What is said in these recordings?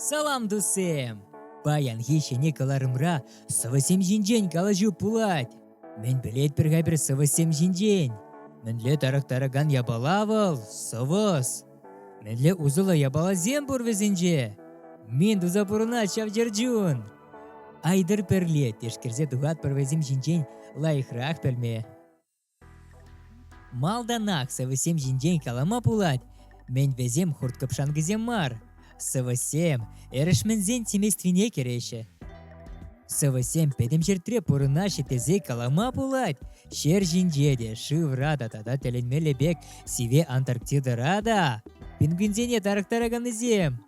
Салам, дусем! Паянхи ҫӗнӗ кӑларӑмра сӑвӑсем ҫинчен калаҫу пулать. Мӗн пӗлетпӗр-ха пӗр сӑвӑссем ҫинчен? Мӗнле тарӑхтаракан япала вӑл сӑвӑс? Мӗнле усӑллӑ япаласем пур вӗсенче? Мин туса пурӑнать ҫав чӗрчун! Айтӑр пӗрле тешкерсе тухатпӑр вӗсем ҫинчен лайӑхрах пӗлме. Малтанах сӑвӑсем ҫинчен калама пулать, мӗн вӗсем хурт-кӑпшанкӑсем мар. Сӑвӑсем эрешменсен семействине кӗреҫҫӗ. Сӑвӑсем пӗтӗм ҫӗртре пурӑнаҫҫӗ тесе калама пулать. Ҫер ҫинче те, шывра та тата тӗлӗнмелле пек сиве Антарктидӑра та пингвинсене тарӑхтараканнисем.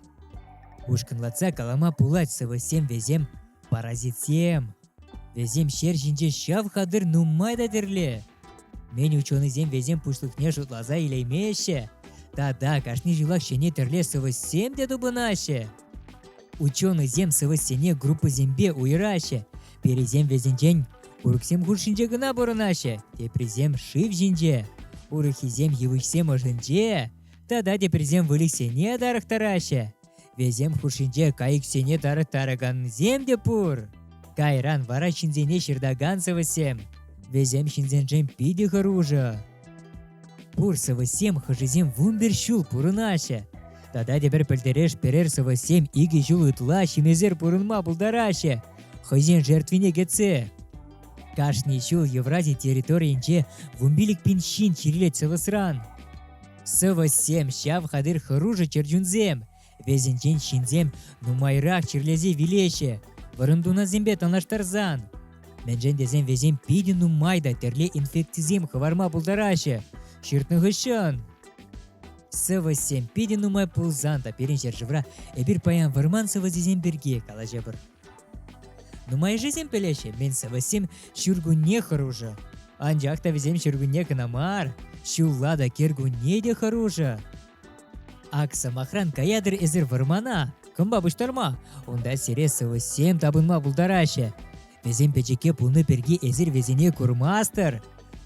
Ушкӑнлатса калама пулать сӑвӑсем вӗсем паразитсем. Вӗсем ҫер ҫинче ҫав хатӗр нумай та тӗрлӗ. Мӗн ученӑйсем вӗсем пуҫлӑхне шутласа илеймеҫҫӗ. Тата кашни ҫулах ҫӗнӗ тӗрле сӑвӑссем те тупӑнаҫҫӗ. Ученӑйсем сӑвӑссене группӑсемпе уйӑраҫҫӗ. Пӗрисем вӗсенчен курӑксем хушшинче кӑна пурӑнаҫҫӗ, теприсем шыв ҫинче, урӑххисем йывӑҫсем ӑшӗнче тата теприсем выльӑхсене тарӑхтараҫҫӗ. Вӗсем хушшинче кайӑксене тарӑхтаракансем те пур. Кайран вара ҫынсене ҫыртакан сӑвӑссем. Вӗсем ҫынсеншӗн питӗ хӑрушӑ. Пур сӑвӑссем хӑшӗсем вунпер ҫул пурӑнаҫҫӗ. Тата тепӗр пӗлтереш перер сӑвӑссем икӗ ҫул ытла ҫимесер пурӑнма пултараҫҫӗ хӑйсен жертвине кӗтсе. Кашни ҫул Еврази территорийӗнче вунпилӗк пин ҫын чирлет сӑвӑсран. Сӑвӑссем, ҫав хатӗр хӑрушӑ чӗрчунсем. Вӗсенчен ҫынсем нумайрах чирлесе вилеҫҫӗ, вӑрӑмтунасемпе танлаштарсан. Мӗншӗн тесен вӗсем питӗ нумай та тӗрле инфекцисем хӑварма пултараҫҫӗ ҫыртнӑ хыҫҫӑн. Сӑвӑссем питӗ нумай пулсан та пирӗн ҫӗршывра эпир паян вӑрман сӑвӑсӗсем пирки калаҫӑпӑр. Нумайӑшӗсем пӗлеҫҫӗ, мӗн сӑвӑссем ҫуркунне хӑрушӑ. Анчах та вӗсем ҫуркунне кӑна мар, ҫулла та кӗркунне те хӑрушӑ. Ак сӑмахран каятӑр эсир вӑрмана, кӑмпа пуҫтарма. Унта сире сӑвӑссем тапӑнма пултараҫҫӗ. Вӗсем пӗчӗкке пулнӑ пирки эсир вӗсене курмастӑр.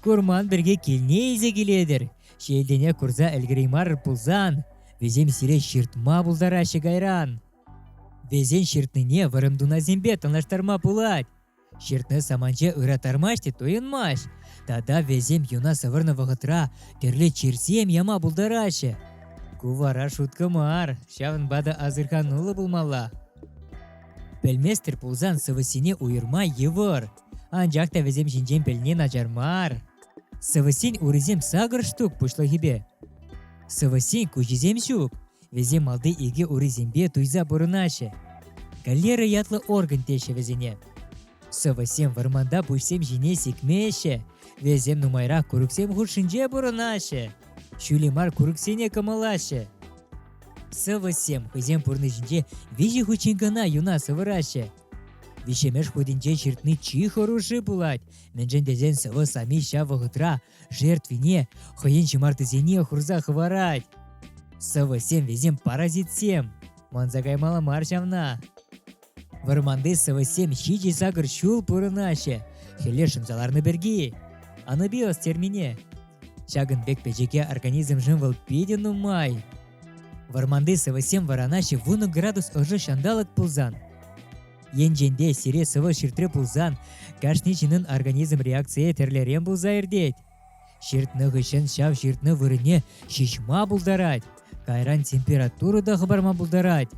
Курман пирки килне илсе килетӗр. Ҫилтенех курса ӗлкӗреймар пулсан, вӗсем сире ҫыртма пултараҫҫӗ кайран. Весен ҫыртнине вӑрӑм тунасемпе танлаштарма пулать. Ҫыртнӑ саманче ыраттармасть те туйӑнмасть. Тата весем юна сӑвӑрнӑ вӑхӑтра тӗрлӗ чирсем яма пултараҫҫӗ. Ку вара шутка мар, ҫавӑнпа та асӑрхануллӑ пулмалла. Пӗлместӗр пулсан сӑвӑссене уйӑрма йывӑр, анчах та вӗсем ҫинчен пӗлни начар мар. Сӑвӑссен урисем сакӑр штук пуҫлӑхӗпе. Сӑвӑссен куҫӗсем ҫук, вӗсем малти икӗ урисемпе туйса пурӑнаҫҫӗ. Галера ятлӑ орган теҫҫӗ вӗсене. Сӑвӑсем вӑрманта пуҫсем ҫине сикмеҫҫӗ, вӗсем нумайрах курӑксем хушшинче пурӑнаҫҫӗ, ҫӳле мар курӑксене кӑмӑлаҫҫӗ. Сӑвӑссем хӑйсен пурнӑҫӗнче виҫӗ хутчен кӑна юна сӑвӑраҫҫӗ. Виҫҫӗмӗш хутӗнче ҫыртни чи хӑрушши пулать, мӗншӗн тесен сӑвӑ сами ҫав вӑхӑтра Жертвине хӑйӗн ҫӑмартисене хурса хӑварать. Сӑвӑсем вӗсем паразитсем. Манса каймалла мар ҫавна. Вӑрманти сӑвӑссем ҫичӗ-сакӑр ҫул пурӑнаҫҫӗ, хӗле шӑнса ларнӑ пирки. Анабиоз термине. Ҫакӑн пек пӗчӗке организмшӑн вӑл питӗ нумай. Вӑрманти сӑвӑссем вӑранаҫҫӗ вунӑ градус ӑшӑ ҫанталӑк пулсан. Енченте сире сывӑ ҫыртре пулсан, кашни ҫыннӑн организм реакцийӗ тӗрлӗрен пулса иртет. Ҫыртнӑ хыҫҫӑн ҫав ҫыртнӑ вырӑнне ҫиҫма пултарать, кайран температура та хӑпарма пултарать,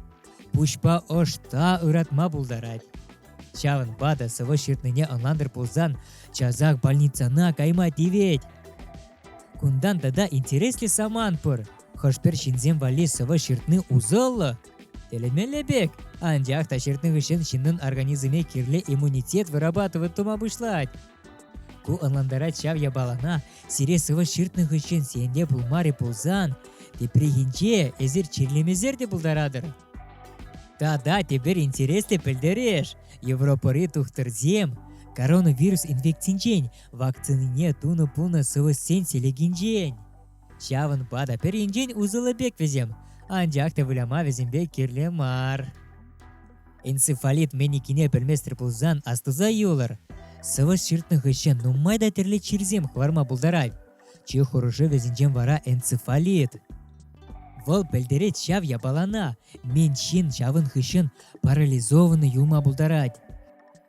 пуҫпа ӑш та ыратма пултарать. Ҫавӑнпа та сывӑ ҫыртнине ӑнлантӑр пулсан, часах больницана кайма тивет. Кунтан тата интереслӗ самант пур. Хӑш-пӗр ҫынсем валли сывӑ ҫыртни усӑллӑ, Тӗлӗнмелле пек. Анчах та ҫыртнӑ хыҫҫӑн ҫыннӑн организмне кирлӗ иммунитет вырабатывать тума пуҫлать. Ку ӑнлантарать ҫав япалана сире сывӑ ҫыртнӑ хыҫҫӑн сен те пулмарӗ пулсан, тепрехинче эсир чирлемесер те пултаратӑр. Тата тепер интереслӗ пӗлтереш. Европӑри тухтӑрсем коронавирус инфекцинчен вакцинине тунӑ пулнӑ сывӑшсен селекинчен Ҫавӑнпа та пӗринчен усӑллӑ пек вӗсем, анчах та выляма вӗсемпе кирлӗ мар. Энцефалит менникине пӗлместӗр пулсан астуса юлӑр. Сӑвӑс ҫыртнӑ хыҫҫӑн нумай та тӗрлӗ чирсем хӑварма пултарать. Чи хӑрушӑ вӗсенчен вара энцефалит. Вӑл пӗлтерет ҫав япалана. Мен ҫын ҫавӑн хыҫҫӑн парализованный юлма пултарать.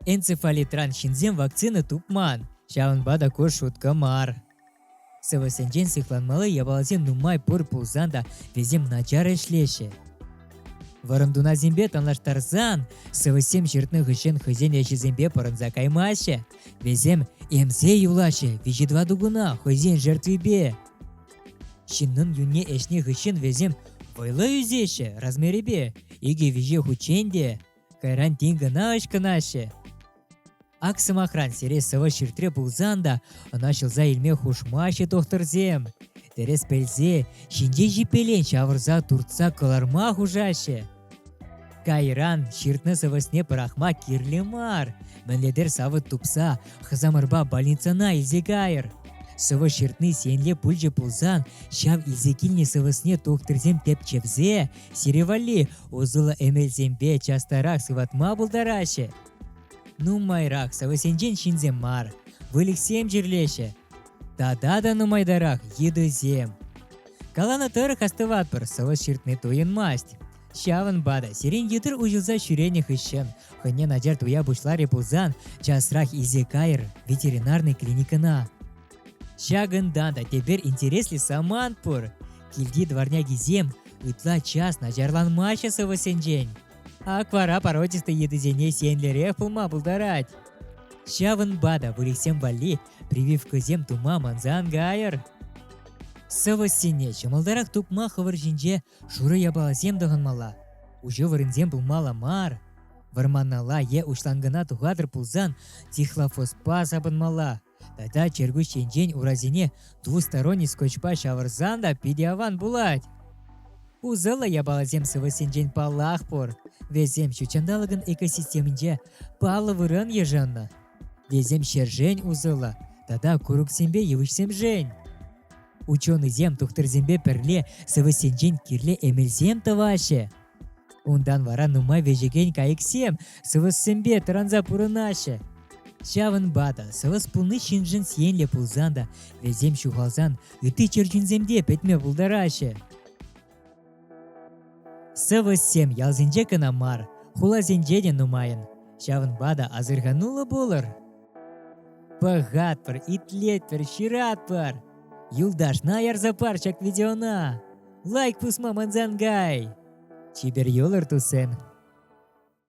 Энцефалитран ҫынсем вакцина тупман, ҫавӑнпа та ку шутка мар. Сӑвӑсенчен сыхланмалли япаласем нумай пур пулсан та вӗсем начар ӗҫлеҫҫӗ. Вӑрӑм тунасемпе танлаштарсан сӑвӑссем ҫыртнӑ хыҫҫӑн хӑйсен ӗҫӗсемпе пӑрӑнса каймаҫҫӗ. Вӗсем эмсе юлаҫҫӗ виҫӗ тӑватӑ куна хӑйсен жертвипе. Ҫыннӑн юнне ӗҫнӗ хыҫҫӑн вӗсем вӑйлӑ ӳсеҫҫӗ размерӗпе икӗ-виҫӗ хутчен те. Кайран тин кӑна ӑчкӑнаҫҫӗ. Ак сӑмахран, сире сӑвӑ ҫыртре пулсан та ӑна ҫӑлса илме хушмаҫҫӗ тухтӑрсем. Тӗрӗс пӗлсе, ҫинҫе ҫиппелен ҫавӑрса туртса кӑларма хушаҫҫӗ. Кайран ҫыртнӑ сӑвӑсне пӑрахма кирлӗ мар. Мӗнлетер савӑт тупса хӑсамӑрпа больницана илсе кайӑр. Сӑвӑ ҫыртни сенле пулчӗ пулсан, ҫав илсе килнӗ сӑвӑсне тухтӑрсем тӗпчевсе Сире валли усӑллӑ эмелсемпе частарах сыватма пултараҫҫӗ. Нумайрах сӑвӑсенчен ҫынсем мар, выльӑхсем чирлеҫҫӗ. Тата та нумайтарах йытӑсем. Каланӑ тӑрӑх астӑватпӑр, сӑвӑс ҫыртни туйӑнмасть. Ҫавӑнпа та сирен йытӑр уҫӑлса ҫӳренӗ хыҫҫӑн хӑйне начар туя пуҫларӗ пулсан часрах илсе кайӑр ветеринарнӑй клиникӑна. Ҫакӑнта та тепер интереслӗ самант пур. Килти дворнякисем ытла час начарланмаҫҫӗ сӑвӑссенчен. Аквара породистый йытӑсене сиенлӗрех пулма пултарать. Ҫавӑнпа та выльӑхсем валли прививкӑсем тума мансан кайӑр. Сӑвӑссене ҫӑмӑлтарах тупма хӑвӑр ҫинче шурӑ япаласем тӑхӑнмалла, уҫӑ вырӑнсем пулмалла мар. Вӑрманалла е уҫланкӑна тухатӑр пулсан тихлофоспа сапӑнмалла, Тата чӗркуҫ енчен урасене двусторонний скотчпа ҫавӑрсан та питӗ аван пулать. Усӑллӑ япаласем сывӑсенчен паллах пур. Вӗсем ҫутҫанталӑкӑн экосистеминче паллӑ вырӑн йышӑннӑ. Вӗсем ҫӗршӗн усӑллӑ тата курӑксемпе йывӑҫсемшӗн. Ученӑйсем тухтӑрсемпе пӗрле сывӑсенчен кирлӗ эмелсем тӑваҫҫӗ. Унтан вара нумай вӗҫекен кайӑксем сӑвӑссемпе тӑранса пурӑнаҫҫӗ. Ҫавӑнпа та сӑвӑс пулни ҫыншӑн сиенлӗ пулсан та вӗсем ҫухалсан ытти чӗрчунсем те пӗтме пултараҫҫӗ. Сӑвӑссем ялсенче кӑна мар, хуласенче те нумайӑн. Ҫавӑнпа та асӑрхануллӑ пулӑр. Пӑхатпӑр, итлетпӗр, ҫыратпӑр. Юлташна ярса пар ҫак видеона. лайк пусма мансангай! Чипер йӑлӑр, туссем!